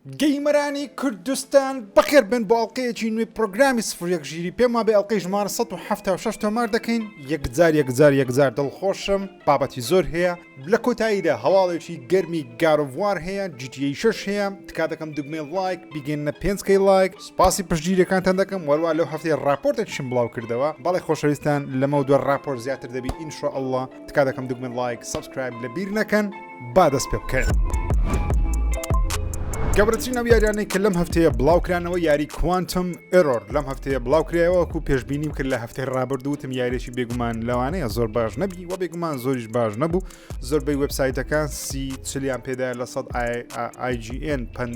گەیمەرانی کوردستان بەخێر بێن بۆ ئەڵقەیەکی نوێی پرۆگرامی سفر یەک ژیری پێم وابێ ئەڵقەی ژمارە 176 تۆمار دەکەین یەکجار یەکجار یەکجار دڵخۆشم بابەتی زۆر هەیە لە کۆتاییدا هەواڵێکی گەرمی گارۆڤوار هەیە جیتیی شەش هەیە تکا دەکەم دوگمێ لایک بیگەنە پێنج کەی لایک سوپاسی پشتگیریەکانتان دەکەم وەروە لەو هەفتەی راپۆرتێکشم بڵاو کردەوە بەڵێ خۆشەویستان لەمە دووە راپۆر زیاتر دەبی ئینشاءاللە تکا دەکەم دکمە لایک سبسکرایب لە بیر نەکەن با دەست پێ بکەن گەبرەترین ئەو یاریانەی کە لەم هەفتەیە بڵاوکرانەوە یاری کوانتم ئێرۆر لەم هەفتەیە بڵاوکرایەوەکو پێشببینیم کرد لە هەفتەی ڕابردووتم یاریێکی بێگومان لەوانەیە زۆر باش نەبی و بێگومان زۆریش باش نەبوو زۆربەی وبسایتەکان سی چلیان پێدا لە سەد IGN پند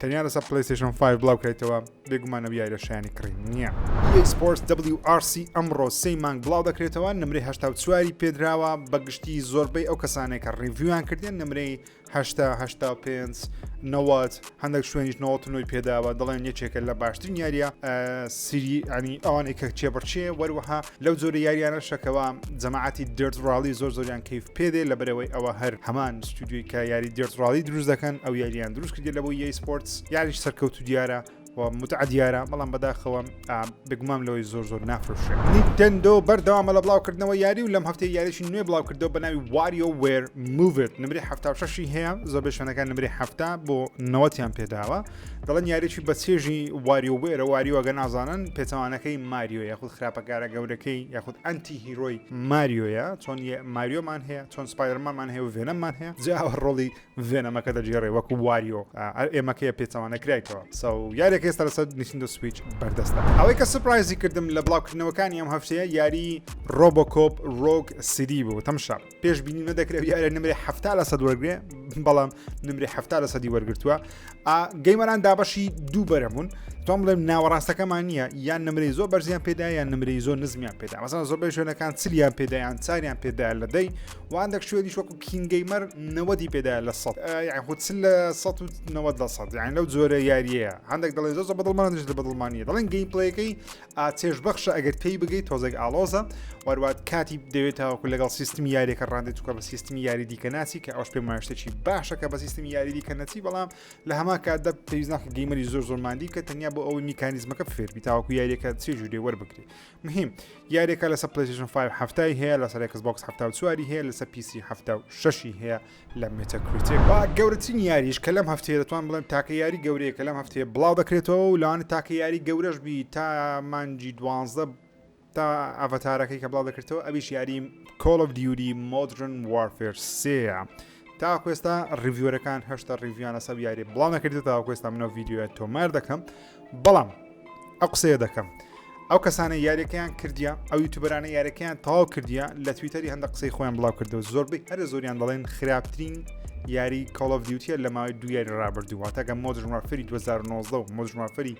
تەنیا لەسەر پلیستشن 5 بڵاوکرایتەوە بێگومان ئەو یاریە شایانی کڕین نییە ئەکسپۆرت WRC ئەمڕۆ سی مانگ بڵاو دەکرێتەوە نمرەی هەشتا و چواری پێدراوە بەگشتی زۆربەی ئەو کەسانێک کە ڕیڤیویان کردێن نمرەی هەشتا هەشتا و پێنج نەوەت هەندێک شوێنیش نەوەتنەوەی پێداوە دەڵێن یەکێکە لە باشترین یاریە سری ئەنی ئەوانەی کە چێبڕچێ وەروەها لەو جۆرە یاریانەشە کەوا جەماعەتی دێرت ڕاڵی زۆر زۆریان کەیف پێدێ لە بەرەوەی ئەوە هەر هەمان ستودیوی کە یاری دێرت ڕاڵی دروست دەکەن ئەو یاریان دروست کردی لە بۆ یای سپۆرتس یاریش سەرکەوت و دیارە و متع دیارە بەڵام بەداخەوە بگومام لەوەی زۆر زۆر نافرۆشێ نیتەندۆ بەردەوامە لە بڵاوکردنەوە یاری و لەم هەفتەی یاریشی نوێ بڵاوکردەوە بە ناوی واریۆ وێر موڤت نمری هەفتاشی هەیە زۆربەی شوێنەکان نمری هەفتا بۆ نەوەتیان پێداوە دەڵێن یاریی بە چێژی واریۆ بێرە واریۆگە نازانن پێچوانەکەی ماریۆ یاخود خراپەکارە گەورەکەی یاخود ئەنتی هیرۆی ماریۆیە چۆن ماریۆمان هەیە چۆن سپایرمانمان هەیە و ڤێنەمان هەیە جاوە ڕۆڵی ڤێنەمەکە دەگێڕێ وەکو واریۆ ئێمەکەیە پێچوانە کرایتەوە سە یارێک ئێستا لەسەر نیسندە سویچ بەردەستە ئەوەی کە سپرایزی کردم لە بڵاوکردنەوەکانی ئەم هەفتەیە یاری ڕۆبۆکۆپ ڕۆک سیدی بوو تەمشە پێش بینی نەدەکرێت یارە نمرێ هەفتا لە سەد وەرگێ بەڵام نمرێ هەفتا لە سەدی وەرگتووە گەیمەران دابەشی دوو بەرەمون تۆم بڵێم ناوەڕاستەکەمان نییە یان نمرەی زۆر بەرزیان پێدا یان نمرەی زۆر نزمیان پێدا مەسان زۆر بە شوێنەکان چلیان پێدایان چاریان پێدا لە دەی واندەک شوێنی شوەکو کینگەیمەر نەوەدی پێدا لە سە یاخود چل لە 1970 یان لەو جۆرە یاریەیە هەندێک دەڵێ زۆر بەدڵمانش لە بەدڵمانە دەڵێن گەیم پلەکەی ئا چێژ بەخشە ئەگەر تێی بگەی تۆزێک ئالۆزە وەروات کاتی دەوێت تاوەکو لەگەڵ سیستمی یاریەکە ڕاندێت توکە بە سیستمی یاری دیکە ناچی کە ئەوش پێ ماشتێکی باشە کە بە سیستمی یاری دیکە نەچی بەڵام لە هەما کاتدا پێویستناکە گەیمەری زۆر زۆرماندی کە تەنیا بۆ ئەوەی میکانیزمەکە فێربی تاوەکو یاریەکە چێ جوورێ وەربگری مهم یاریەکە لەسە پلیشن 5 هەفتای هەیە لەسەر کەس بۆکس هەفتا و چواری هەیە لەسە پیسی هەفتا و شەشی هەیە لە مێتەکریتێک با گەورەترین یاریش کە لەم هەفتەیە دەتوان بڵێم تاکە یاری گەورەیە کە لەم هەفتەیە بڵاو دەکرێتەوە و لەوانە تاکە یاری گەورەش بی تا مانجی دوانزدە تا ئەڤتارەکەی کە بڵاو دەکرێتەوە ئەویش یاری کۆڵ of دیوری مۆدرن وارفێر سێە تا کوێستا ڕیڤۆرەکان هەشتا ڕیڤیانە سەب یاری بڵاو نەکردێت تا کوێستا منەوە یددیوە تۆمار دەکەم بەڵام ئەو قسەیە دەکەم ئەو کەسانە یاریەکەیان کردیا ئەو یوتوبەرانە یاریەکەیان تەواو کردیا لە تویتەری هەندە قسەی خۆیان بڵاو کردو زۆربەی هەرە زۆریان دەڵێن خراپترین یاری کۆڵف دیوتە لە ماوەی دو یاری ڕابردووە تاگە مۆدرمافری 2009 و مۆدرمافری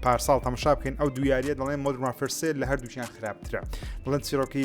پارساڵ تەمەشا بکەین ئەو دو یاریە دەڵێن مۆدرمافرسێ لە هەردووچیان خراپترە بڵند چیرۆکی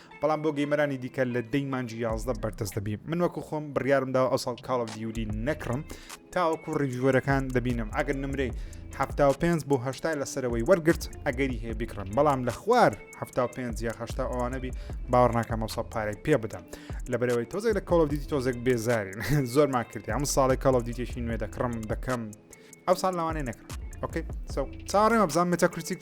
بەڵام بۆ گەیمەرانی دیکە لە دەی مانجی یازدە بەردەست دەبی من وەکو خۆم بڕیارم داوە ئەو ساڵ کاڵ دیوری نەکڕم تاوەکو ڕیژوەرەکان دەبینم ئەگەر نمرەی هەفتا و پێنج بۆ هەشتا لە سەرەوەی وەرگرت ئەگەری هەیە بکڕم بەڵام لە خوار هەفتا و پێنج یا هەشتا ئەوانەبی باوەڕناکەمەسە پارەی پێ بدەم لە بەرەوەی تۆزێک لە کاڵ دیتی تۆزێک بێزارین زۆرمان کردی ئەم ساڵی کاڵ دیتێکی نوێ دەکڕم دەکەم ئەو ساڵ لەوانێ نەکرد ئۆکەی چاڕێمە بزان متەکرتیک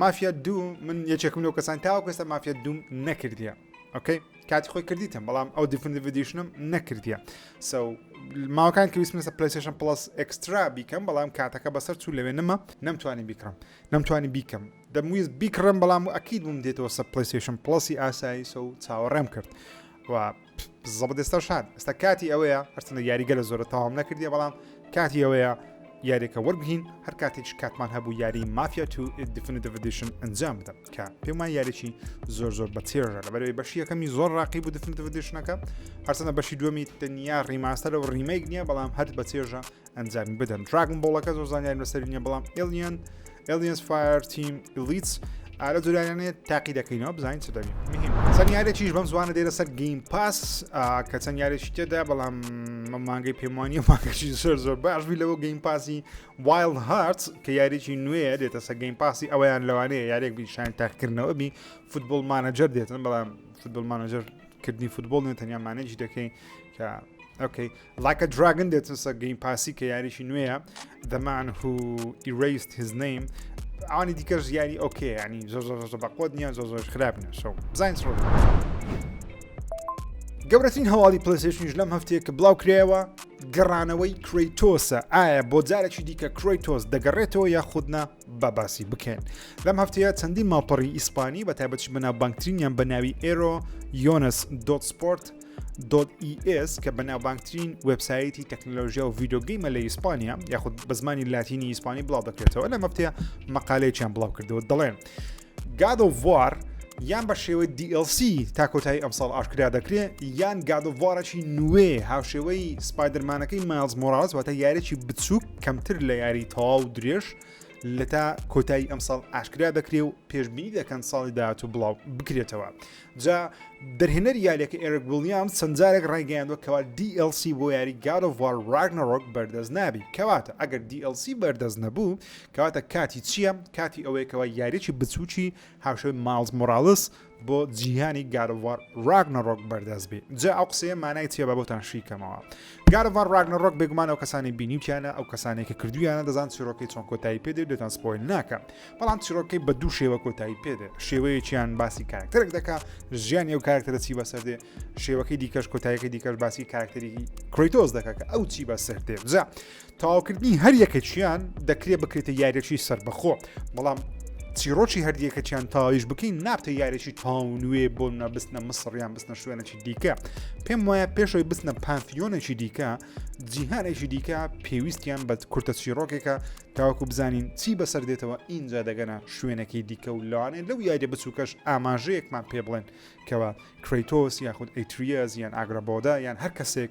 مافیا دوو من یەکێکم لەو کەسان تاوەکو ئێستا مافیا دووم نەکردیە ئۆکەی کاتی خۆی کردیتم بەڵام ئەو دیفندڤدیشنم نەکردیە سو ماوەکان کە ویسمسە پلیسشن پلس ئەکسترا بیکەم بەڵام کاتەکە بەسەر چوو لەوێ نەما نەمتوانی بیکڕم نەمتوانی بیکەم دەمویست بیکڕم بەڵام و ئەکیید بووم دێتەوە سە پلیسشن پلسی ئاسایی سو چاوەڕێم کرد و زەبەدەستە شان ئێستا کاتی ئەوەیە هەرچندە یاریگە لە زۆرە تەواو نەکردی بەڵام کاتی ئەوەیە یاریەکە وەرگین هەر کاتێک کاتمان هەبوو یاری مافیا تو دفنتڤدیشن ئەنجام بدەم کە پێمان یاریی زۆر زۆر بە تێژە لە بەرەوەی بەشی یەکەمی زۆر ڕاقی بوو دفنتڤدیشنەکە هەرچەنە بەشی دووەمی تەنیا ڕیماستەرە و ڕیمەیک نییە بەڵام هەر بە تێژە ئەنجامی بدەن دراگن بۆڵەکە زۆر زانیان لەسەری نیە بەڵام ئلیان ئلیس فایر تیم ئلیتس ئالە جوریانێ تاقی دەکەینەوە بزانین چ دەبین مهم چەند یارێکیش بەم زوانە دێرە سەر گیم پاس کە چەند یارێکی تێدا بەڵام مانگەی پێمانی مانگەشی زۆر زۆر باشبی لەوە گەیم پاسی وایل هارت کە یاریی نوێ دێتە سە گەیم پاسی ئەویان لەوانەیە یارێک بیشان تاقکردنەوە بی فوتبول مانەجەر دێتن بەڵام فوتبول مانەجەر کردنی فوتبول نێ تەنیا مانێکی دەکەین کە ئۆکەی Like a Dragon دێتنسە گەیم پاسی کە یاریشی نوێیە The Man Who Erased His Name ئەوانی دیکەش یاری ئۆکێ ینی زۆر زۆر زۆر بەقۆت نییە زۆر زۆر خراپ نیە شەو بزانین سڕ گەورەترین هەواڵی پلسیشنیش لەم هەفتەیە کە بڵاو کرایەوە گەڕانەوەی کریتۆسە ئایا بۆ جارێکی دیکە کریتۆس دەگەڕێتەوە یاخودنا با باسی بکەین لەم هەفتەیە چەندین ماڵپەڕی ئیسپانی بە تایبەتش بەناوبانگترینیان بە ناوی ئێرۆ یۆنس دۆت سپۆرت دۆت ئیS کە بەناوبانگترین وبسایەتی تەکنلۆژیا و ڤیددیوگەیمە لە ئیسپانیا یاخود بە زمانی لاتینی ئیسپانی بڵاو دەکرێتەوە لە مەفتەیە مەقالەیەکیان بڵاو کردەوە دەڵێن. گاد ئۆف وار یان بە شێوەی DLC تا کۆتایی ئەمساڵ ئاشکرا دەکرێت یان گادۆڤارەکی نوێ هاوشێوەی سپایدرمانەکەی ماز مۆراز واتە یاریی بچووک کەمتر لە یاری تەواو درێژ لە تا کۆتایی ئەمساڵ ئاشکرا دەکرێ و پێشببینی دەکەن ساڵی داات و بڵاو بکرێتەوە جا دەرهێنەر یاریەکە ئێرک ولیام سنجارێک ڕایگەیاندوە کەوا DLC بۆ یاری گارۆڤار ڕاگنەڕۆک بەردەست نابی کەواتە ئەگەر DLC بەردەست نەبوو کەواتە کاتی چییە؟ کاتی ئەوەیە کەوا یاریەکی بچووکی هاوشێوەی ماڵز مۆراڵس بۆ جیهانی گارڤار راگنەڕۆک بەردەست بێ جا ئەو قسەیە مانای چیە بە بۆتان شیکەمەوە گارڤار راگنەڕۆک بێگومان ئەو کەسانی بینیوتیانە ئەو کەسانێکە کردویانە دەزان چیرۆکەی چۆن کۆتایی پێ دێت دێتان سپۆیل ناکە بەڵام چیرۆکەی بە دوو شێوە کۆتایی پێدێ شێوەیەکیان باسی کارکتەرێک دەکا ژیانی ئەو کارکتەرە چی بەسەر دێ شێوەکەی دیکەش کۆتایەکە دیکەش باسی کارکتەری کرۆیتۆز دەکە کە ئەو چی بەسەر دێ بزە تەواوکردنی هەر یەکەکیان دەکرێت بکرێتە یاریەکی سربەخۆ بەڵام چیرۆکی هەردیەکەکیان تاویش بکەین نابتە یاریی تاو نوێ بۆ نەبستنە مسڕیان بستنە شوێنێکی دیکە پێم وایە پێشەوەی بستنە پانفیۆنێکی دیکە جیهانێکی دیکە پێویستیان بە کورتە چیرۆکێکە تاوەکو بزانین چی بەسەر دێتەوە ئینجا دەگەنە شوێنەکەی دیکە و لەوانێت لەو یاریە بچووکەش ئاماژەیەکمان پێ بڵێن کەەوە کریتۆس یاخود ئەیتریەز یان ئاگرابۆدا یان هەر کەسێک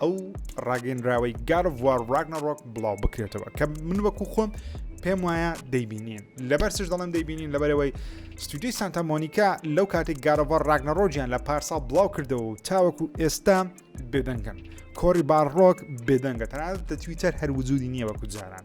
ئەو ڕاگەنراوەی گارڤوار ڕاگنەڕۆک بڵاو بکرێتەوە کە من وەکو خۆم پێم وایە دەیبینین لەبەر سش دەڵم دەیبینین لەبەرەوەی ستودیوی سانتا مۆنیکا لەو کاتێک گارەوە ڕاگنەڕۆژیان لە پارسا بڵاو کردەوە و تاوەکو ئێستا بێدەنگن کۆری باڕۆک بێدەنگە تەنانەت دەتویتەر هەر وجودی نییە وەکو جاران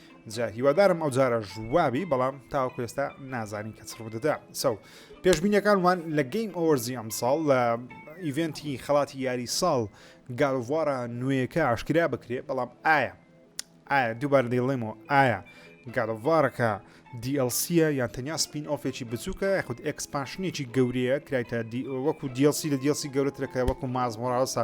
جا هیوادارم ئەو جارە ژوابی بەڵام تاوەکو ئێستا نازانین کە چڕوو دەدا سەو پێشبینیەکان وان لە گەیم ئەوەرزی ئەم ساڵ لە ئیڤنتی خەڵاتی یاری ساڵ گالڤوارە نوێیەکە ئاشکرا بکرێ بەڵام ئایا ئایا دووبار دەیڵێمەوە ئایا گالڤارەکە دیLCە یان تەنیا سپین ئۆفێکی بچووکە یاخود ئەکسپانشنێکی گەورەیە کرایتە وەکو دیLC لە دیLC گەورەترەکە وەکو مازمۆراوسە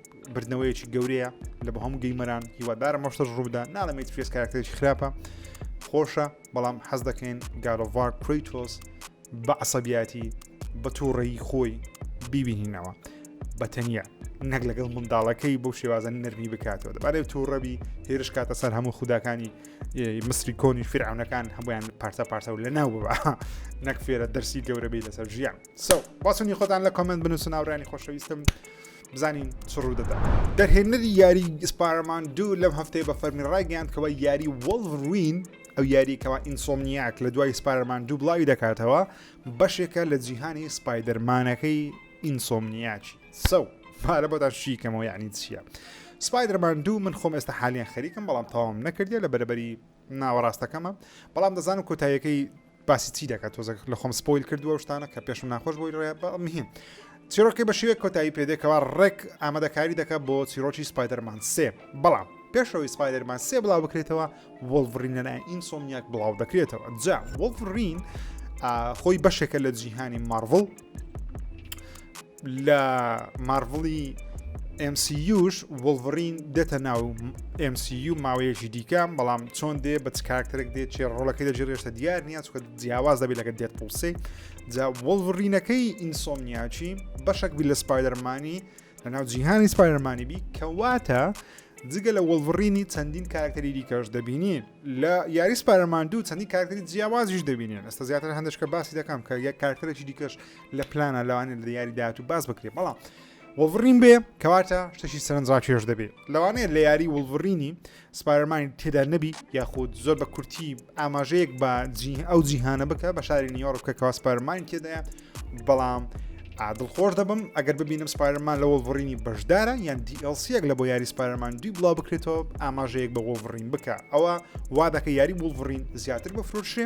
بردنەوەیەکی گەورەیە لە بە هەم گەیمەران هیوادارە مەشتەش ڕوودا ناڵێمێت فرێس کارکتێکی خراپە خۆشە بەڵام حەز دەکەین گارۆڤار کریتۆس بە عسەبیاتی بە تووڕێی خۆی بیبینینەوە بە تەنیا نەک لەگەڵ منداڵەکەی بۆ شێوازن نەرمی بکاتەوە دەبارەی تووڕەبی هێرش کاتە سەر هەموو خوداکانی مسری کۆنی فرعونەکان هەمویان پارتە پارتە و لە ناو ببا نەک فێرە دەرسی گەورەبی لەسەر ژیان سو باسونی خۆتان لە کۆمنت بنووسن ناوڕانی خۆشەویستم بزانین چ ڕوودەدات. دەرهێنەری یاریی سپایرمان دوو لەم هەفتەیە بە فەرمی ڕایگەیاند کەوا یاری وۆڵڤروین، ئەو یارییەی کەوا ئینسۆمنیاک لە دوای سپایرمان دوو بڵاوی دەکاتەوە، بەشێکە لە جیهانی سپایدەرمانەکەی ئینسۆمنیاکی. سەو، پارە بۆتان شی کەمەوە یەعنی چییە؟ سپایدەرمان دوو من خۆم ئێستا حالیەن خەریکم بەڵام تەواوم نەکردیە لە بەرەبەری ناوەڕاستەکەمە بەڵام دەزانم کۆتاییەکەی باسی چی دەکات تۆزە لە خۆم سپۆیل کردووە و شتانە کە پێشم ناخۆش بۆی ڕێ مهم چیرۆکی بە شێوێک کۆتایی پێدێکەوە ڕێک ئامادەکاری دەکات بۆ چیرۆکی سپایدەرمان سێ بەڵام پێشەوەی سپایدەرمان سێ بڵاو بکرێتەوە وڵڤڕین لە لای ئینسۆمیاک بڵاو دەکرێتەوە جا وڵڤڕین خۆی بەشێکە لە جیهانی مارڤڵ لە مارڤڵی MCUش وڵڤڕین دێتە ناو MCU ماوەیەکی دیکە بەڵام چۆن دێ بە کارکتەرێک دێت چێ ڕۆڵەکەی لە جێرێشتە دیار نییە چکە جیاواز دەبێت لەگە دێت پڵسی جا وڵڤڕینەکەی ئینسۆمنیاچی بەشک بی لە سپایدەرمانی لە ناو جیهانی سپایرمانی بی کەواتە جگە لە وەڵڤڕینی چەندین کارکتەری دیکەش دەبینین لە یاری سپارەماندوو چەندی کارکتەری جیاوازیش دەبینێن ئەستا زیاتر هەندشکە باسی دەکەم کە یەک کارکتەرێکی دیکەش لە پلانە لەوانێت لە یاری داهاتوو باس بکرێت بەڵام وڵڤڕین بێ کەواتە شتەشی سەرنجڕا چێش دەبێت لەوانەیە لە یاری وڵڤڕینی سپارەمانی تێدا نەبی یاخود زۆر بە کورتی ئاماژەیەک بە ئەو جیهانە بکە بە شاری نیۆڕ بکەکەوا سپارمانی تێدایە بەڵام عادڵ خۆش دەبم ئەگەر ببینم سپارمان لە وڵڤڕینی بەشدارە یان دیLCەک لە بۆ یاری سپارمان دوی بڵاو بکرێتەوە ئاماژەیەک بە وڵڤڕین بکە ئەوە وا دەکە یاری وڵڤڕین زیاتر بە فرۆشێ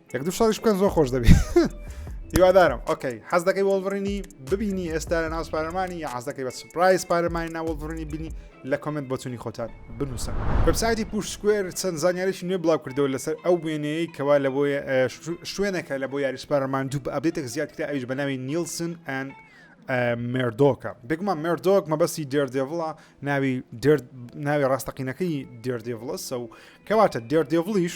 یەک دوو ساڵیش بکەن زۆر خۆش دەبێت هیوادارم ئۆکەی حەز دەکەی وەڵبڕینی ببینی ئێستا لە ناو سپارەمانی یا حەز دەکەی بە سپرایز پارەمانی ناوەڵبڕینی بینی لە کۆمنت بۆچوونی خۆتان بنووسن وبسایتی پوشتکوێر چەند زانیاریی نوێ بڵاو کردەوە لەسەر ئەو وێنەیە کەوا لە بۆ شوێنەکە لە بۆ یاری سپارەمان دوو بە ئەبێتێک زیاد کرا ئەوش بە ناوی نیلسن ئەن مردۆکە بگومان مردۆک مەبەستی دێردێڤڵە ناوی ناوی ڕاستەقینەکەی دێردێڤڵەسە و کەواتە دێردێڤڵیش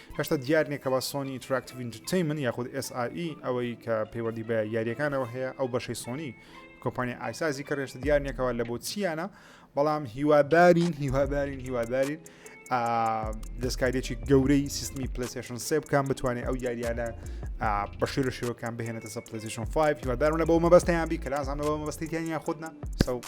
هێشتا دیار نییە کەوا سۆنی ئینتراکتیڤ ئینتەرتەینمنت یاخود SIE ئەوەی کە پەیوەندی بە یاریەکانەوە هەیە ئەو بەشەی سۆنی کۆمپانیا ئایسازی کە ڕێشتە دیار نیەکەوە لە بۆچیانە بەڵام هیوادارین هیوادارین هیوادارین دەستکاریێکی گەورەی سیستمی پلیسشن سێ بکەم بتوانێت ئەو یاریانە بەشێ لە شێوەکان بهێنێتە سە پلیسشن 5 هیوادارم لە بۆ مەبەستیان بی کە لازانەوە مەبەستیان یان خودنا سەو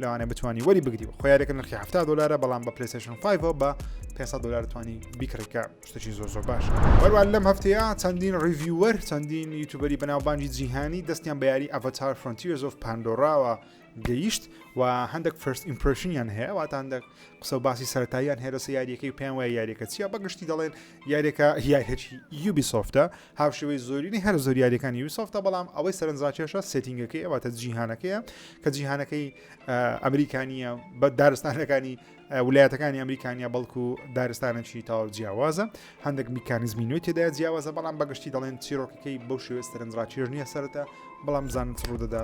لەوانەیە بتانی وەری بگری خۆ یارێکە نرخی هەفتا دلارە بەڵام بە پلیسشن 5 بە 500 دلار توانی بیکڕیکە شتێکی زۆر زۆر باش بەروە لەم هەفتەیە چەندین ڕیڤیوەر چەندین یوتوبەری بەناوبانجی جیهانی دەستیان بە یاری ئەڤتار فرۆنتیرز و پاندۆراوە گەیشت و هەندێک فرست ئیمپرشنیان هەیە واتاندە قسە و باسی سەرتاییان هێرەسە یاریەکەی پێیان وای یاریەکە چیە بەگشتی دەڵێن یاریەکە یاریەکی یوبی سۆفتە هاوشێوەی زۆرینەی هەرە زۆر یاریەکانی یوسۆفتە بەڵام ئەوەی سەرنجڕاکێشە سێتینگەکەی ئەواتە جیهانەکەیە کە جیهانەکەی ئەمریکانیە بە دارستانەکانی ولایەتەکانی ئەمریکانیا بەڵکو دارستانەکی تاو جیاوازە هەندێک میکانزمی نوێ تێدا جیاوازە بەڵام بەگشتی دەڵێن چیرۆکەکەی بەو شێوێ سەرنجڕاکێش نییە سەرە بەڵام بزانن چ ڕوودەدا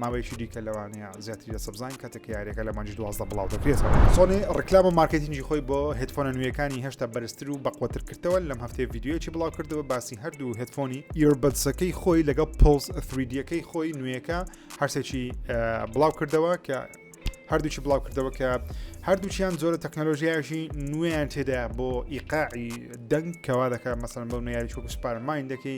ماوەیەکی دیکە لەوانەیە زیاتری لە سەبزان کاتێک یاریەکە لە مانجی دوازدە بڵاو دەکرێت سۆنی ڕکلام و مارکتینگی خۆی بۆ هدفۆنە نوێیەکانی هێشتا بەرزتر و بەقوتر کردەوە لەم هەفتەیە یددیوەکی بڵاو کردەوە باسی هەردوو هدفۆنی ئیربەتسەکەی خۆی لەگەڵ پلس 3دیەکەی خۆی نوێیەکە هەرسێکی بڵاو کردەوە کە هەردووچی بڵاو کردەوە کە هەردووچیان زۆرە تەکنەلۆژیایشی نوێیان تێدا بۆ ئیقاعی دەنگ کەوا دەکات مەسەن بەو نوێیاری چۆک سوپارماین دەکەی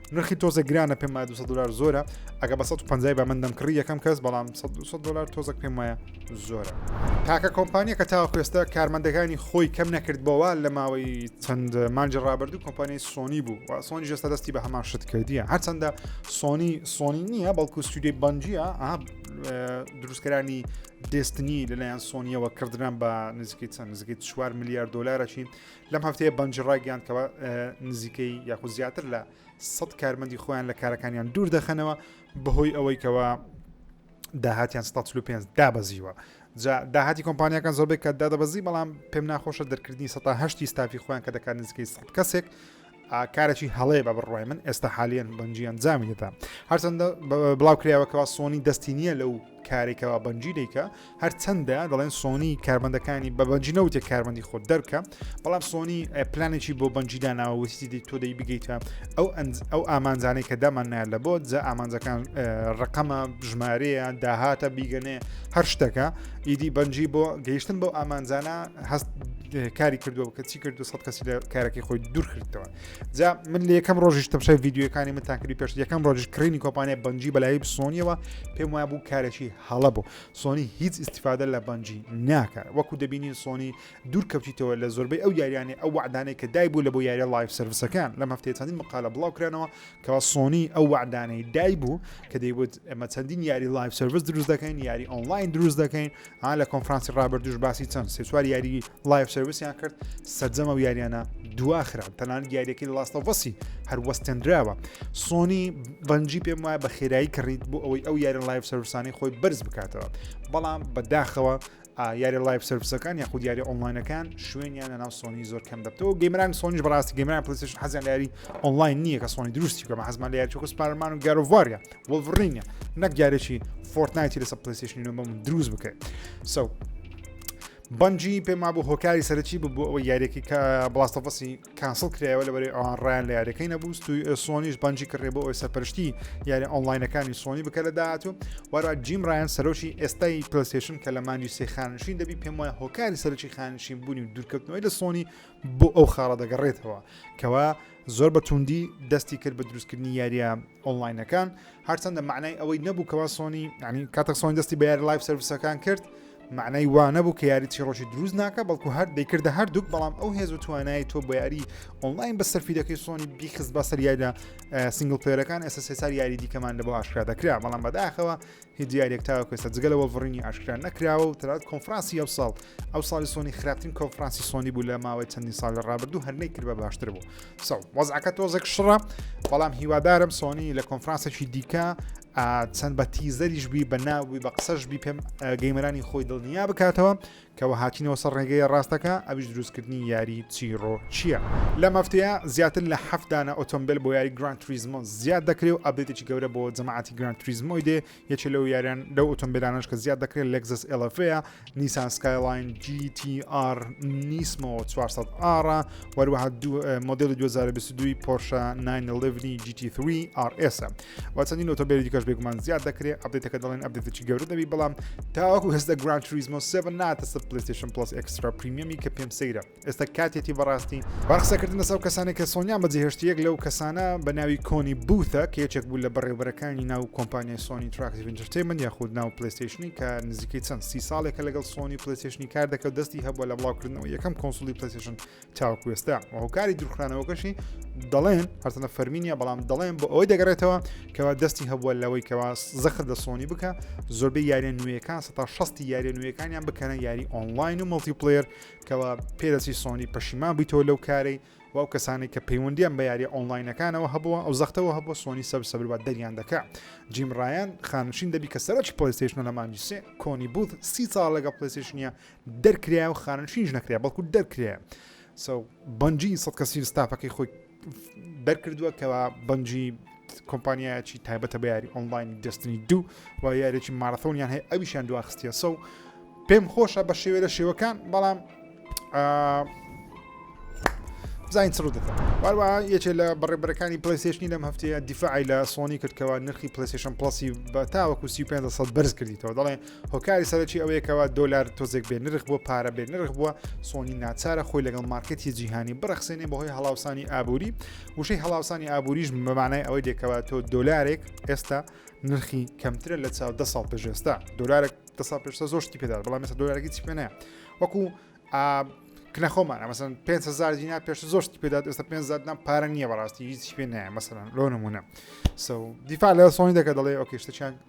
نرخی تۆزە گرانە پێم وایە 200 دلار زۆرە ئەگە بە 150 بە من دەمکڕی یەکەم کەس بەڵام 100 دلار تۆزەک پێم وایە زۆرە تاکە کۆمپانیە کە تاوە کوێستە کارمەندەکانی خۆی کەم نەکردبەوە لە ماوەی چەند مانجی ڕابردوو کۆمپانیای سۆنی بوو و سۆنی جێستا دەستی بە هەمان شت کردیە هەرچەندە سۆنی سۆنی نییە بەڵکو سوودی بەنجە دروستکەرانی دەستنی لەلایەن سۆنیەوە کردران بە نزیکەی چەند نزیکەی چوار میلیارد دلارەچین لەم هەفتەیە بەنج ڕایگەیان کەەوە نزیکەی یاخود زیاتر لە سە کارمەندی خۆیان لە کارەکانیان دوور دەخەنەوە بەهۆی ئەوەی کەەوە داهاتیان 5 دابەزیوە جا داهاتی کۆمپانیەکان زۆربێک کە دادەبەزی بەڵام پێم ناخۆشە دەرکردنی 1970 ستافی خۆیان کە دەکات نزیکەی 100 کەسێک کارەکی هەڵەیە بە بڕوای من ئێستا حالیان بەنجی ئەنجامی دەدا هەرچەندە بڵاو کراوەکەەوە سۆنی دەستی نییە لەو کارێکەوە بەنجی دیکە هەرچەندە دەڵێن سۆنی کاربندەکانی بە بەنجی نەوتێ کاربندی خۆت دەرکە بەڵام سۆنی پلانێکی بۆ بەنجیدا ناوەوەستی دی تۆ دەی بگەیتە ئەو ئەو ئامانجانەی کە دامان نایە لە بۆ جە ئامانجەکان ڕقەمە ژمارەیە داهاتە بیگەنێ هەر شتەکە ئیدی بەنجی بۆ گەیشتن بۆ ئامانجانە هەست کاری کردووە کە چی کردو سە کەسی لە کارەکەی خۆی دوور کردەوە جا من لە یەکەم ڕۆژیش تەمشای یددیوەکانی من تاکری پێش یەکەم ڕۆژی کڕینی کۆپانیا بەنجی بەلایی بسۆنیەوە پێم وایە بوو کارێکی هەڵە بوو سۆنی هیچ استفادە لە بەنجی ناکات وەکو دەبینین سۆنی دوور کەوتیتەوە لە زۆربەی ئەو یاریانی ئەو وعدانەی کە دای بوو لە بۆ یاریە لایف سروسەکان لە هەفتەیە چەندین مقالە بڵاو کرانەوە کەوا سۆنی ئەو وعدانەی دای بوو کە دەیوت ئەمە چەندین یاری لایف سرویس دروست دەکەین یاری ئۆنلاین دروست دەکەین ها لە کۆنفرانسی ڕابردوش باسی چەند سێ چوار یاری لایف سرویسیان کرد سەرجەمە و یاریانە دواخران تەنان یاریەکەی لاستەڤسی هەر وەستێنراوە سۆنی بەنجی پێم وایە بە خێرایی کڕیت بۆ ئەوەی ئەو یاری لایف سروسانی خۆی بەرز بکاتەوە بەڵام بەداخەوە یاری لایف سروسەکان یاخود یاری ئۆنلاینەکان شوێنیان لە ناو سۆنی زۆر کەم دەبتەوە گەمران سۆنیش بەڕاستی گەمران پلیسش حەزیان لاری ئۆنلاین نییە کە سۆنی دروستی کەمە حەزمان لە یاچوکە سپارمان و گەرڤاریا وڵڤڕینگە نەک جارێکی فۆرتنایتی لەسە پلیستیشنی نۆ بەم دروست بکەێت سو بەنجی پێم وابوو هۆکاری سەرەکی ببوو ئەوە یاریەکە کە بڵاستەفەسی کانسڵ کرایەوە لە بەری ئەوان ڕیان لە یاریەکەی نەبوو توی سۆنیش بەنجی کڕێ بۆ ئەوی سەرپەرشتی یاری ئۆنلاینەکانی سۆنی بکە لە داهاتوو وەرا جیم ڕیان سەرۆکی ئێستای پلستێشن کە لە مانجی سێ خانشین دەبی پێم وایە هۆکاری سەرکی خانشین بوونی و دوورکەوتنەوەی لە سۆنی بۆ ئەو خاڵە دەگەڕێتەوە کەوا زۆر بە توندی دەستی کرد بە دروستکردنی یاریە ئۆنلاینەکان هەرچەندە معنای ئەوەی نەبوو کەوا سۆنی ینی کاتە سۆن دەستی بە یاری لایف سرویسەکان کرد معنای وا نەبوو کە یاری چیڕۆژی دروست ناکە بەڵکو هەر دەیکردە هەردووک بەڵام ئەو هێز و توانای تۆ بۆ یاری ئۆنلاین بە سەرفیدەکەی سۆنی بیخست بە سەریایدا سنگل پێرەکان ئێستا سێسار یاری دیکەمان لە بۆ ئاشکرا دەکرا بەڵام بەداخەوە هیچ دیاریەک تاوەکو ئێستا جگە لە وەڵڤڕینی ئاشکرا نەکراوە و تەنانەت کۆنفرانسی ئەمساڵ ئەمساڵی سۆنی خراپترین کۆنفرانسی سۆنی بوو لە ماوەی چەندین ساڵ لە ڕابردوو هەر نەیکرد بە باشتر بوو سەو وەزعەکە تۆزێک شڕە بەڵام هیوادارم سۆنی لە کۆنفرانسێکی دیکە چەند بە تیزەریش بی بە ناوی بە قسەش بی پێم گەیمەرانی خۆی دڵنیا بکاتەوە کەوە هاتینەوە سەر ڕێگەیە ڕاستەکە ئەویش دروستکردنی یاری چیڕۆکیە. لەم هەفتەیە زیاتر لە حەفت دانە ئۆتۆمبێل بۆ یاری گران تریزمۆ زیاد دەکرێ و ئەبدەیتێکی گەورە بۆ جەماعەتی گران تریزمۆی دێ یەکێ لەو یاریان لەو ئۆتۆمبێلانەش کە زیاد دەکرێ لەگزەس ئێڵەفەیە نیسان سکایلاین جی تی ئار نیسمۆ 400 ئاڕا وەروەها مۆدلی 2022 پۆرشە 9 لڤنی جی تی 3 ئار ئێسە و چەندین ئۆتۆبێلی دیکەش بێگومان زیاد دەکرێت ئەبدێتەکە دەڵێن ئەبدێتێکی گەورە دەبی بەڵام تاوەکو هێزدە گران تریزمۆ سێ ناتە سەر پلیستشن پلس ئەکسرا پریمیەمی کە پێم سەیرە ئێستا کاتێتی بەڕاستی بەڕقسەکردن لەسەو کەسانی کە سۆنیان بەجێهێشت یەک لەو کەسانە بە ناوی کۆنی بوتە کە یەکێک بوو لە بەڕێوبەرەکانی ناو کۆمپانیای سۆنی تراکتیڤنجرتەی من یاخود ناو پلیستشنی کە نزیکەی چەند سی ساڵێکە لەگەڵ سۆنی پلیستشنی کار دەکەوت دەستی هەبووە لە بڵاوکردنەوە یەکەم کۆنسولی پلیستشن تاوەکو ئێستا و هۆکاری درخرانەوەکەشی دەڵێن هەرتەنە فەرمینە بەڵام دەڵێن بۆ ئەوەی دەگەڕێتەوە کەوا دەستی هەبووە لەوەی کەوا زەخر لە سۆنی بکە زۆربەی یاریە نوێیەکان سە شستی یاریە نوێیەکانیان بکەنە یاری ئۆنلاین و مڵتیپلێر کەوا پێدەچی سۆنی پەشیمان بیتەوە لەو کارەی و ئەو کەسانی کە پەیوەندیان بە یاری ئۆنلاینەکانەوە هەبووە ئەو زەختەوە هەبووە سۆنی سەر سەبروات دەریان دەکە جیمڕایان خانشین دەبی کە سەرۆکی پلیستیشن لە مانجیسێ کۆنی بوت سی ساڵ لەگە پلیستیشنە دەرکرایە و خانەنشینیش نەکرایە بەڵکو دەرکرایە سو بەنجی سەد کەسین ستافەکەی خۆی دەرکردووە کەوا بەنجی کۆمپانیایەکی تایبەتە بە یاری ئۆنلاین دەستنی دوو و یارێکی مارەثۆنیان هەیە ئەویشیان دواخستیە سە و پێم خۆشە بە شێوێ لە شێوەکان بەڵام بزانین چڕ دەکەن واروە یەکێ لە بەڕێبەرەکانی پلیسشنی لەم هەفتەیە دیفاعی لە سۆنی کردکەوە نرخی پلیسشن پلسی بە تاوەکو 35 بەرز کردیتەوە دەڵێ هۆکاری سەرەکی ئەوەیە کەوا دۆلار تۆزێک بێ نرخ بۆ پارە بێ نرخ بووە سۆنی ناچارە خۆی لەگەڵ مارکەتی جیهانی بڕخسێنێ بەهۆی هەڵاوسانی ئابووری وشەی هەڵاوسانی ئابووریش بەمانای ئەوەی دێکەوە تۆ دۆلارێک ئێستا نرخی کەمترە لە چاو دە ساڵ پێشێستا دۆلارێک دە ساڵ پێشتا زۆشتی پێدار بەڵام مەسە دۆلارێکی چی پێێنە وەکو کنەخۆمان ئەمەسن 500 دینا پێش زۆشتی پێدات ئێستا 500 نام پارە نییە بەڕاستی هیچ پێ نایە مەسەن لۆ نمونە سو دیفاع لە سۆنی دەکە دەڵێ ئۆکیشتەچیان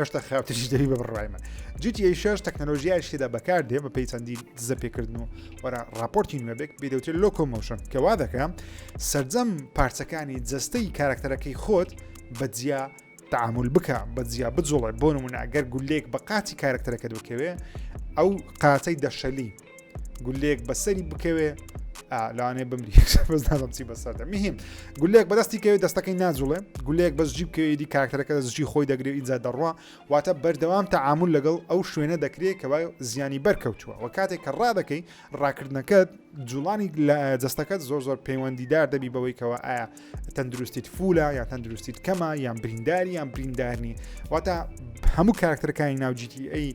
هێشتا خراپتریش دەبی بە بڕای من جیتی شش تەکنەلۆژیای شتێدا بەکار دێ بە پێی چەندی دزە پێکردن و وەرە راپۆرتی نوێبێک بێدەوتێت لۆکۆمۆشن کە وا دەکەم سرجەم پارچەکانی جستەی کارکتەرەکەی خۆت بە جیا تعامل بکە بە جیا بجوڵێ بۆ نمونە ئەگەر گولێک بە قاتی کارکتەرەکە دوکەوێ ئەو قاتەی دەشەلی گولێک بەسەری بکەوێ لەوانێ بمری بەزدانم چی بەسەردە میهیم گولێک بەدەستی کەوێت دەستەکەی ناجوڵێ گولێک بەس جیب کەوێدی کاکتەرەکە دەستجی خۆی دەگرێ ئینجا دەڕوا واتە بەردەوام تەعامل لەگەڵ ئەو شوێنە دەکرێت کە زیانی بەرکەوتووە و کاتێک کە ڕادەکەی ڕاکردنەکەت جوڵانی لە جستەکەت زۆر زۆر پەیوەندیدار دەبی بەوەیکەوە ئایا تەندروستیت فولە یا تەندروستیت کەمە یان برینداری یان بریندارنی واتە هەموو کاکتەرەکانی ناوجیتی ئەی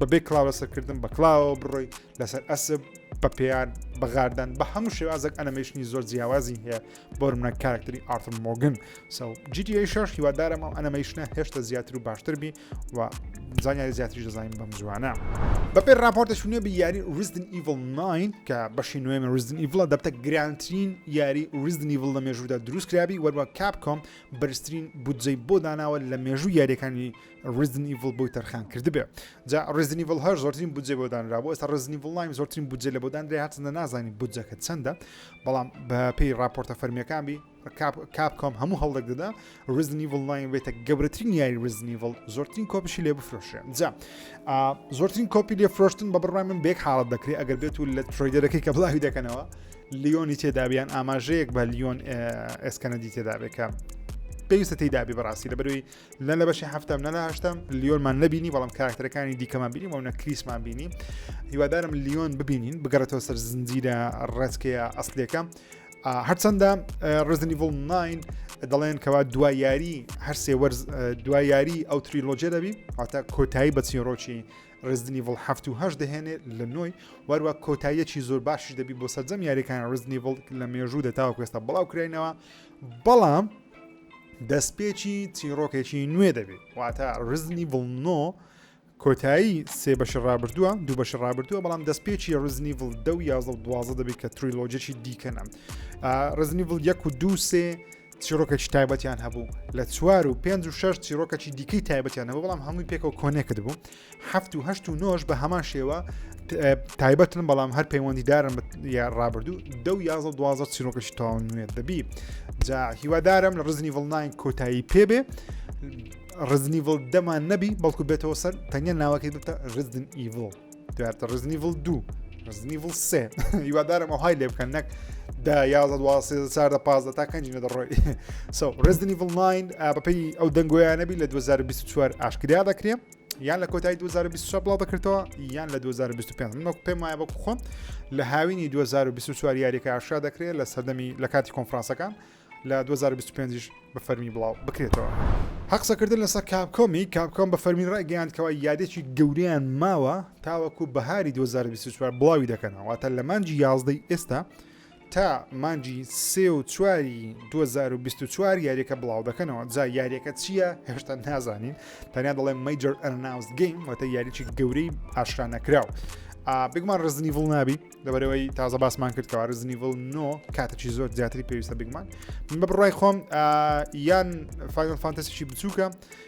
بەبێ کڵاو لەسەرکردن بە کڵاوەوە بڕۆی لەسەر ئەسب بە پێیان بەغاردان بە هەموو شێوازێک ئەنەمەشنی زۆر جیاوازی هەیە بۆ منە کارکتری ئارتم مۆگن سەو جیدی شش هیوادارم ئەو ئەنەمەیشنە هێشتا زیاتر و باشتر بی و زانیاری زیاتری دەزانین بەم جوانە بەپێ راپۆرتە شوێ بە یاری ریزدن ئیڤل 9 کە بەشی نوێمە ریزدن ئیڤڵە دەبتە گرانترین یاری ریزدن ئیڤڵ لە مێژوودا دروستکرابی وەروە کاپ کۆم بەرزترین بودجەی بۆ داناوە لە مێژوو یاریەکانی ریزن ئیڤڵ بۆی تەرخان کردبێ جا ریزن ئیڤڵ هەر زۆرترین بودجێ بۆ دانرا بۆ ئێستا ریزن ئیڤڵ نایم زۆرترین بودجێ لە بۆ دانرێ هاتنە نازانی بودجەکە چەندە بەڵام بە پێی راپۆرتە فەرمیەکان بی کاپ کۆم هەموو هەڵدەک دەدا ریزن ئیڤڵ نایم بێتە گەورەترین یاری ریزن ئیڤڵ زۆرترین کۆپیشی لێ بفرۆشێ جا زۆرترین کۆپی لێ فرۆشتن بە بڕای من بێک حاڵت دەکرێت ئەگەر بێت و لە ترۆیدەرەکەی کە بڵاوی دەکەنەوە لیۆنی تێدابیان ئاماژەیەک بە لیۆن ئێسکەنەدی تێدابێکە پێویستە تێدابی بەڕاستی لە بەروی نە لە بەشی هەفتم نە لە هەشتم لیۆنمان نبینی بەڵام کاراکتەرەکانی دیکەمان بینی و نە کریسمان بینی هیوادارم لیۆن ببینین بگەڕێتەوە سەر زنجیرە ڕێزکەیە ئەسلەکە هەرچەندە ڕزنیڤڵ 9 دەڵێن کەوا دوا یاری هەرسێ وەرز دوا یاری ئەو تریلۆجێ دەبی هاتە کۆتایی بە چیرۆکی ڕزدنی ڤڵ هەفت و هەش دەهێنێ لە نۆی وەروە کۆتاییەکی زۆر باشی دەبی بۆ سەررجەم یاریەکان ڕزنیڤڵ لە مێژوو دەتاوە کوێستا بڵاو کراینەوە بەڵام دەستپێکی چیڕۆکێکی نوێ دەبێت واتە ڕزنی بڵنۆ کۆتایی سێ بەش ڕابردووە دوو بەش ڕابردووە بەڵام دەستپێکی ڕزنی ڤڵ دە و یازە دوازە دەبێت کە تریلۆجێکی دیکەنە ڕزنی ڤڵ یەک و دوو سێ چیرۆکێکی تایبەتیان هەبوو لە چوار و پێنج و شش چیرۆکەی دیکەی تایبەتیان هەبوو بەڵام هەمووی پێکەوە کۆنێکت بوو هەفت و هەشت و نۆش بە هەمان شێوە تایبەتن بەڵام هەر پەیوەندیدارن یا ڕابردوو دە و یازە دوازە چیرۆکەش تاو نوێت دەبی جا هیوادارم لە ڕزنی ڤڵناین کۆتایی پێبێ ڕزنی ڤڵ دەمان نەبی بەڵکو بێتەوە سەر تەنیا ناوەکەی بتە ڕزن ئیڤڵ دواتە ڕزنی ڤڵ دوو ڕزنی ڤڵ سێ هیوادارم ئەوهای لێ بکەن نەک دا یازە دواسێ چاردە پازدە تا کەنجینە دەڕۆی سو ڕزنی ڤڵناین بەپی ئەو دەنگۆیانەبی لە 2024 ئاشکریا دەکرێت یان لە کۆتایی 2024 بڵاو دەکردەوە یان لە 2025 من وەک پێم وایە بە خۆم لە هاوینی 2024 یاریەکە ئاشا دەکرێت لە سەردەمی لە کاتی کۆنفرانسەکان لە 2025 بە فەرمی بڵاو بکرێتەوە. هەقسەکردن لەسەر کاپکۆمی کاپکۆم بە فەرمی ڕێگەیاندکەوە یادێکی گەوریان ماوە تاوەکو بەهاری 2024 بڵاوی دەکەنەوەواتە لە مانجی یازدەی ئێستا تا مانجی سێ و چواری 2024 یاریەکە بڵاو دەکەنەوە جا یاریەکە چییە هێشتا نازانین تەنیا دەڵێن مەجر ئەناوس گەیم وەتە یاریی گەورەی ئاشرا نەکراو بگمان ڕزنی ڤڵ نابی لەبەرەوەی تازە باسمان کرد کەوا ڕزنی ڤڵ نۆ کاتەی زۆر زیاتری پێویستە بگمان من بە بڕای خۆم یان فایل فانتەسیی بچووکە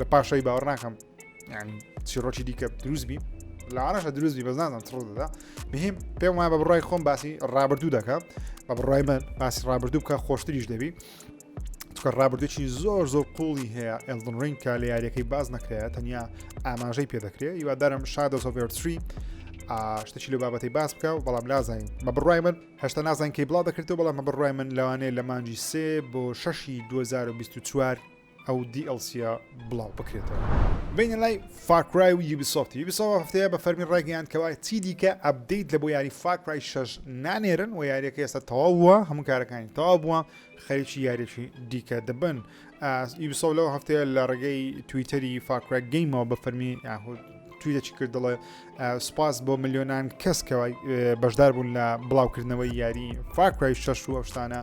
لە پاشای باوەڕ ناکەم چیڕۆکی دیکە دروست بی لە عراش دروست بی بەزانم تڕ دەدا بهیم پێم وایە بە بڕای خۆم باسی ڕابردوو دەکە بە بڕای من باسی ڕابردوو بکە خۆشتریش دەبی چکە ڕابردووی زۆر زۆر قوڵی هەیە ئەلدن ڕنگ کە لە یاریەکەی باز نەکرێت تەنیا ئاماژەی پێدەکرێت یوادارم شادە سۆڤێرتری شتەچی لە بابەتی باس بکە و بەڵام لازانین مە بڕای من هەشتا نازان کەی بڵا دەکردەوە بەڵام مە بڕای من لەوانەیە لە مانجی سێ بۆ شەشی 2024 ئەو دی ئێڵ سییە بڵاو بکرێتەوە. بینە لای فار کرای و یوبیسۆفت یوبیسۆفت ئەم هەفتەیە بە فەرمی ڕایگەیاند کەوا چیدیکە ئەپدەیت لە بۆ یاری فار کرای شەش نانێرن و یاریەکە ئێستا تەواو بووە هەموو کارەکانی تەواو بووە خەریکی یاریی دیکە دەبن یوبیسۆف لەو هەفتەیە لە ڕێگەی تویتەری فار کرای گەیمەوە بە فەرمی یاهود تویدەچی کرد دەڵێ سوپاس بۆ ملیۆنان کەس کەوای بەشدار بوون لە بڵاوکردنەوەی یاری فاکرای شەش و ئەوشتانە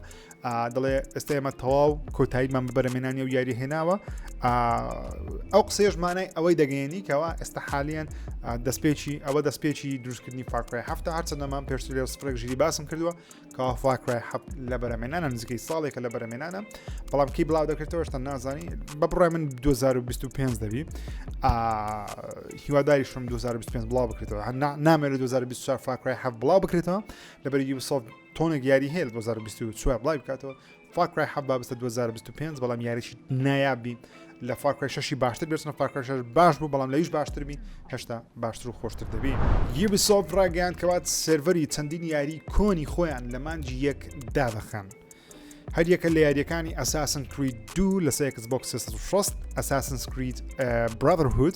دەڵێ ئێستا ئێمە تەواو کۆتاییمان بە بەرەمێنانی و یاری هێناوە ئەو قسێژمانای ئەوەی دەگەێنی کەەوە ئێستا حالیان دەستپێکی ئەوە دەستپێکی دروستکردنی فاکرای هەفتە هەرچەندەمان پێشتر لێ سپرێک ژیری باسم کردووە کەوا فاکرای حەفت لە بەرەمێنانە نزیکەی ساڵێکە لە بەرەمێنانە بەڵام کی بڵاو دەکرێتەوە شتە نازانی بە بڕای من 2025 دەبی هیواداری شم 2025 بڵاو بکرێتەوە هەنا نامێ لە 2024 فاکرای حەف بڵاو بکرێتەوە لەبەرگی وسۆفت تۆنێک یاری هەیە لە 2024 بڵای بکاتەوە فاکرای حە بابستە 2025 بەڵام یاریی نایابی لە فاکرای شەشی باشتر بێتنە فاکرش باش بوو بەڵام لەویش باشتربی هێشتا باشتر و خۆشتر دەبی یبسۆف ڕاگەیان کەوات سێڤەری چەندین یاری کۆنی خۆیان لە مانجی یەک دابخەن. هەریەکە لە یاریەکانی ئەساسن کرید دوو لە سێکس بۆکس 6 ئەساسن سکریت برادرهود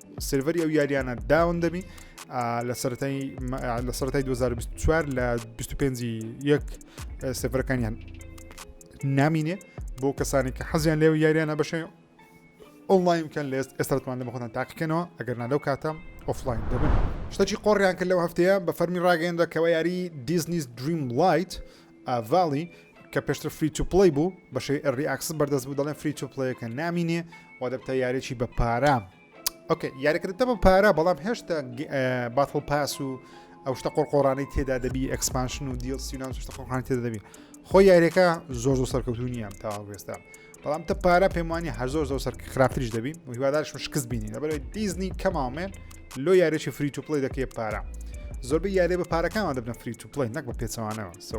سێرڤەری ئەو یاریانە داون دەبی لە سەرای لە سەرای 2024 لە 25 یەک سێڤەرەکانیان نامینێ بۆ کەسانی کە حەزیان لێو یاریانە بەشێ ئۆنلاین بکەن لە ئێستاتوان لە بەخۆتان تاقیکەنەوە ئەگەر نالەو کاتە ئۆفلاین دەبن شتەکی قۆڕیان کرد لەو هەفتەیە بە فەرمی ڕاگەندە کەەوە یاری دیزنیز دریم لایت ڤالی کە پێشتر فری تو پلی بوو بەشەی ئەری ئاکسس بەردەست بوو دەڵێن فری تو پلیەکە نامینێ و دەبتە یارێکی بە پارە ئۆکە یاریکردتە بە پارە بەڵام هێشتا باتڵ پاس و ئەو شتە قۆرقۆرانەی تێدا دەبی ئەکسپانشن و دیل سینان شتە قۆڕان تێدا دەبی خۆ یاریەکە زۆر زۆر سەرکەوتو نییە تاوا بێستا بەڵام تە پارە پێم وانی هەر زۆر زۆر سەر خراپتریش دەبین و هیوادارشم شکست بینی لەبەرەوەی دیزنی کەماومێن لۆ یارێکی فری تو پلی دەکەێت پارە زۆربەی یارێ بە پارەکانەوە دەبن فری تو پلی نەک بە پێچەوانەوە سە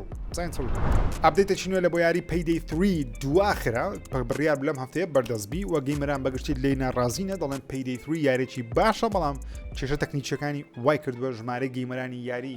ئەبدەیتێکی نوێ لە بۆ یاری پەیدەی تری دواخرا بڕیار لەم هەفتەیە بەردەستبی و گەیمەران بەگشتی لی ناڕازینە دەڵێن پەیدەی تری یارێکی باشە بەڵام کێشە تەکنیکیەکانی وای کردووە ژمارە گەیمەرانی یاری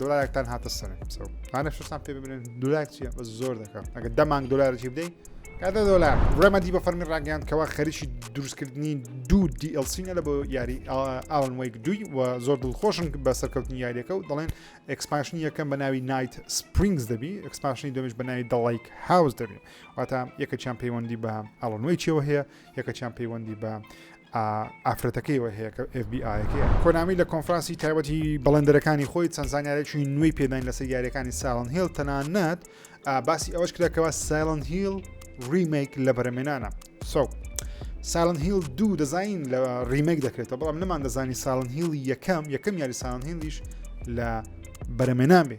دۆلارێکتان هاتە سەرم سەو هانە شتان پێ ببنێن دولار چیە بە زۆر دەکەم ئەگە دەمان دۆلارێکی بدەین کاتە دۆلار ڕێمەدی بە فەرمی ڕاگەیان کەوا خەریکی دروستکردنی دوو دیLCینە لە بۆ یاری ئاڵن وەیک دوی و زۆر دڵخۆشن بە سەرکەوتنی یاریەکە و دەڵێن ئەکسپاشنی یەکەم بە ناوی نایت سپرینگز دەبی ئەکسپاشنی دەمش بە ناوی دەڵیک هاوس دەبی واتە یەکەچیان پەیوەندی بە ئاڵن وەیچەوە هەیە یەکەکیان پەیوەندی بە ئافرەتەکەیەوە هەیە کە FBIەکەیە کۆنامی لە کۆنفرانسی تایبەتی بەڵندەرەکانی خۆی چەند زانیارێکی نوێی پێداین لەسەر یاریەکانی ساڵن هێڵ تەنانەت باسی ئەوەش کراکەوە سایلن هیل ریمێک لە بەرەمێنانە سو ساڵن هیل دوو دەزین لە ریمێک دەکرێتەوە بەڵام نەمان دەزانی ساڵن هیل یەکەم یەکەم یاری ساڵن هیلیش لە بەرەمێنان بێ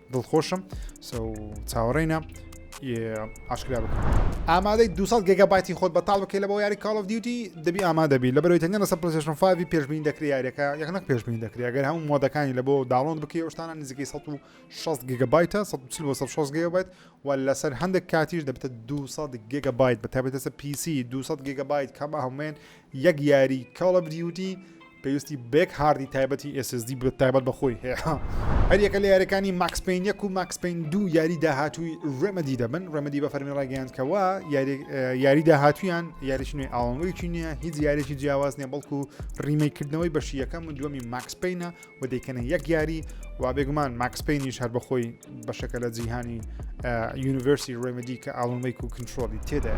دڵخۆشم چاوەڕێینە ئاشکرا بکەم ئامادەی 200 گەگە باتی خۆت بەتاڵ بکەی لە بۆ یاری کاڵ of دیوتی دەبی ئامادەبی لە بەرەوەی تەنگە لەسەر پلسشن فاوی پێشبین دەکری یاریەکە یەک نەک پێشبین دەکری گەر هەموو مۆدەکانی لە بۆ داڵۆن بکەی شتانە نزیکەی 16 گگە بایتە 16 گێ بێت و لەسەر هەندێک کاتیش دەبێتە 200 گگە بایت بە تابێتەسە پیسی 200 گگە بایت کەمە هەموێن یەک یاری کاڵ of دیوتی پێویستی بەیەک هاردی تایبەتی SSD تایبەت بەخۆی هەیە هەریەکە لە یاریەکانی ماکس پین یەک و ماکس پین دوو یاری داهاتووی ڕێمەدی دەبن ڕێمەدی بە فەرمی ڕاگەیاندکەوە یاری داهاتویان یاریش نوێ ئاڵنگویی نییە هیچ یاریی جیاواز نیە بەڵکو ڕیمەیکردنەوەی بەشی یەکەم و دووەمی ماکس پینە و دەیکەنە یەک یاری و بێگومان ماکس پینیش هەر بەخۆی بەشەکە لە جیهانی یونیڤرسی ڕێمەدی کە ئاڵمەیک و کنترۆلی تێدا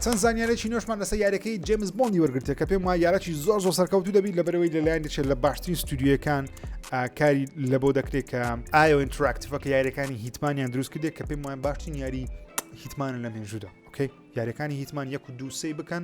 چەند زانیارێکی نوێشمان لەسە یارەکەی جیمز بۆندی وەرگرتێ کە پێم وای یارەکی زۆر زۆر سەرکەوتو دەبیت لە بەرەوەی لەلایەن دەچێت لە باشترین ستودیوەکان کاری لە بۆ دەکرێت کە ئایا ئینتراکتفە کە یارەکانی هیتمانیان دروست کردێک کە پێم وای باشترین یاری هیتمانە لە مێژودا ئۆکەی یارەکانی هیتمان یەک و دووسەی بکەن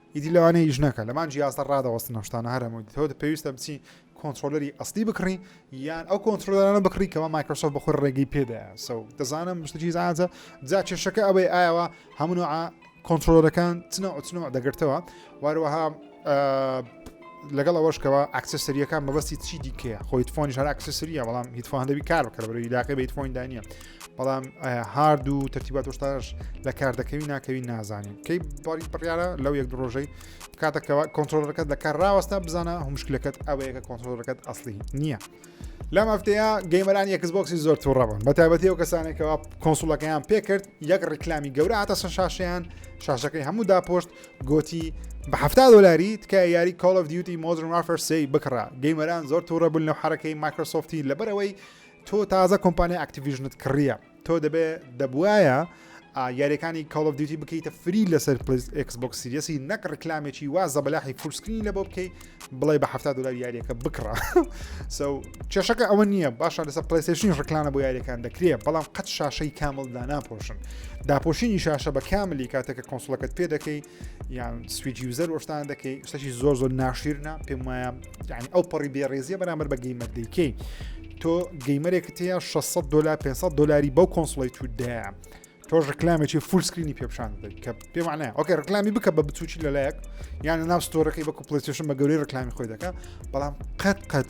ئیدی لەوانەیە ئیش نەکە لەمان جیاستە ڕادەوەستن ئەم شتانە هەر هەمووی تۆ پێویستە بچی کۆنتترۆلەری ئەستی بکڕی یان ئەو کۆنتترۆلەرانە بکڕی کەەوە مایکرۆسۆف بەخۆی ڕێگەی پێدایە سە دەزانم مشتری زانزە جا کێشەکە ئەوەی ئاوا هەمونوع کۆنتترۆلەکان چنە ئۆچنەوە دەگرتەوە واروەها لەگەڵ ئەوەشکەوە ئەکسسەریەکان مەبەستی چی دیکەیە خۆیت فۆنی شار ئەکسسریە بەڵام هیتفۆن دەبی کار بکە بەرەوەی لاقی بە هیتفۆندا نیە بەڵام هارد و تەرتیبات وشتاش لە کار دەکەوی ناکەوی نازانین کەی باری بڕیاە لەو یەک ڕۆژەی کاتەکەەوە کۆنتترۆلەکەت لە کار ڕاوەستا بزانە هەمشکلەکەت ئەوەیەکە کۆنتترۆلەکەت ئەسلی نییە. لەم ئەفتەیە گەیمەران یەکسبکسی زۆر تووڕەبن بە تایبەتی و کەسانێکەوە کۆنسوڵەکەیان پێکرد یەک ڕیکلامی گەورە هاتە سەر شاشیان شاشەکەی هەموو داپۆشت گۆتی بە ه دلاری تکە یاری کۆڵف دیوتی مۆدرن وافرسی بکڕە گەیمەران زۆر تووڕە بوون لەو حرەکەی مایکرۆسۆفتی لەبەرەوەی تۆ تازە کۆمپانیای ئەکتیڤیژنت کڕیە تۆ دەبێ دەبواە یاریەکانی کاڵ دیوتی بکەیتە فری لەسەر پلیس ئەکسبک سیریەسی نەک ڕکلامێکی وا زەبلاحی فورسکرین لە بۆ بکەیت بڵێ بە هەفتا دلار یاریەکە بکڕە سو کێشەکە ئەوە نییە باشە لەسەر پلیسشین ڕکلانە بۆ یاریەکان دەکرێت بەڵام قەت شاشەی کامل داناپۆشن داپۆشینی شاشە بە کاملی کاتێکە کۆنسڵەکەت پێ دەکەی یان سویج یوزەر وەشتان دەکەی شتەکی زۆر زۆر ناشیرنا پێم وایە یعنی ئەو پەڕی بێڕێزیە بەرامبەر بە گەیمەر دەیکەی تۆ گەیمەرێکت هەیە 600 دلار 500 دلاری بەو کۆنسڵی تو دەیە تۆش ڕکلامێکی فول سکرینی پێپشان کە پێمانە ئۆکە ڕکلامی بکە بە بچوکی لەلایەک یان ناو ستۆرەکەی بە کوپلسیشن بە گەوری ڕکلامی خۆی دەکە بەڵام قەت قەت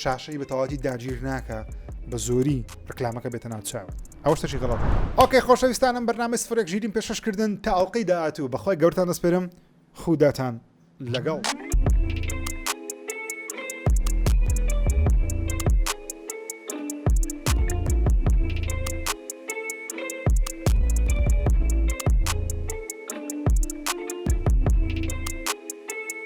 شاشەی بە تەواوەتی داگیر ناکا بە زۆری ڕکلامەکە بێتە ناو چاوت ئەوە شتەکی غەڵەتە. ئۆکەی خۆشەویستانم بەرنامەی سفرێک ژیریم پێشکەش کردن تا ئەڵقەی داهاتوو بە خوای گەورەتان دەسپێرم خوداتان لەگەڵ.